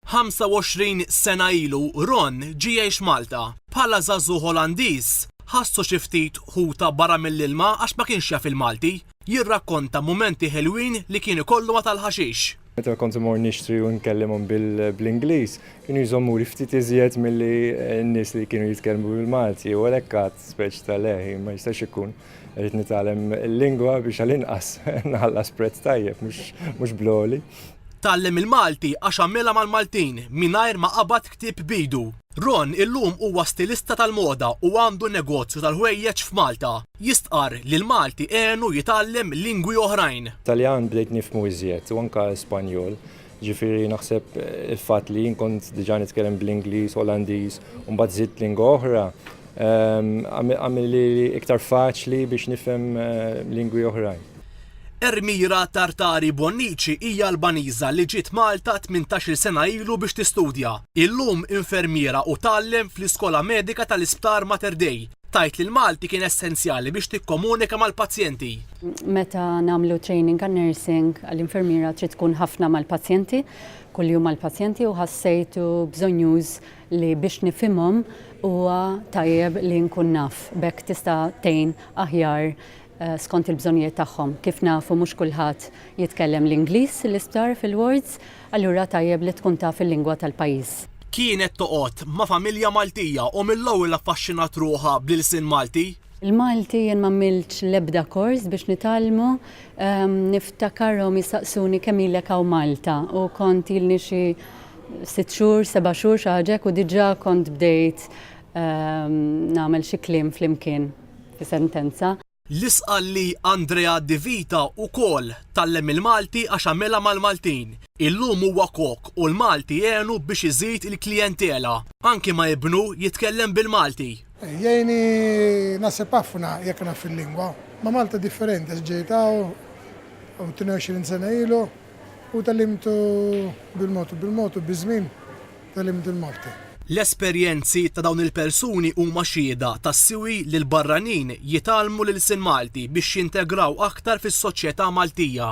25 sena ilu Ron ġie jgħix Malta. Bħala żagħżugħ Olandiż, ħassu xi ftit ħuta barra mill-ilma għax ma kienx jaf il-Malti. Jirrakkonta mumenti ħelwin li kien ikollu ma' tal-ħaxix. Meta kont immur nixtri u nkellimhom bl-Ingliż, kienu jżommuli ftit iżjed milli n-nies li kienu jitkellmu bil-Malti u għalhekk għadt speċi ta' le, ma jistax ikun. Irrid nitgħallem il-lingwa biex għall-inqas nħallas prezz tajjeb mhux bl-għoli. Tgħallem il-Malti għax għamilha mal-Maltin mingħajr ma qabad ktieb b'idu. Ron illum huwa stilista tal-moda u għandu negozju tal-ħwejjeġ f'Malta. Jistqarr li l-Malti għenu jitgħallem lingwi oħrajn. Taljan bdejt nifhmu iżjed u anke Spanjol. Jiġifieri naħseb il-fatt li jien kont diġà nitkellem bl-Ingliż, Olandiż u mbagħad żidt lingwa oħra ehm, għamilli iktar faċli biex nifhem eh, lingwi oħrajn. Ermira Tartari Bonnici hija Albaniża li ġiet Malta 18-il sena ilu biex tistudja. Illum infermiera u tgħallem fl-Iskola Medika tal-Isptar Mater Dei. Tgħid li l-Malti kien essenzjali biex tikkomunika mal-pazjenti. Meta nagħmlu training għal nursing għal infermiera trid tkun ħafna mal-pazjenti, kuljum mal-pazjenti u ħassejtu bżonjuż li biex nifhimhom huwa tajjeb li nkun naf. B'hekk tista' tgħin aħjar eh, skont il-bżonnijiet tagħhom. Kif nafu mhux kulħadd jitkellem l-Ingliż l-isptar fil-wards, allura tajjeb li tkun taf il-lingwa tal-pajjiż. Kienet toqgħod ma' familja Maltija u mill-ewwel affaxxinat ruħha bl-ilsien Malti. Il-Malti jien m'għamiltx l-ebda kors biex nitgħallmu, niftakarhom jistaqsuni kemm ilek hawn Malta u kont ilni xi sitt xhur, seba' xhur xi ħaġa hekk u diġà kont bdejt nagħmel xi kliem flimkien fi sentenza. L-isqal li Andrea Di Vita wkoll tgħallem il-Malti għax għamilha mal-Maltin. Illum huwa kok u l-Malti għenu biex iżid il-klijentela. Anki ma' ibnu jitkellem bil-Malti. Jgħinni naħseb ħafna jekk naf il-lingwa. Ma' Malta differenti għax ġejt hawn 22 sena ilu u tgħallimt bil-mod u bil-mod u biż-żmien tgħallimt il-Malti. L-esperjenzi ta' dawn il-persuni huma xhieda tas-siwi li l-barranin jitgħallmu l-ilsien Malti biex jintegraw aktar fis-soċjetà Maltija.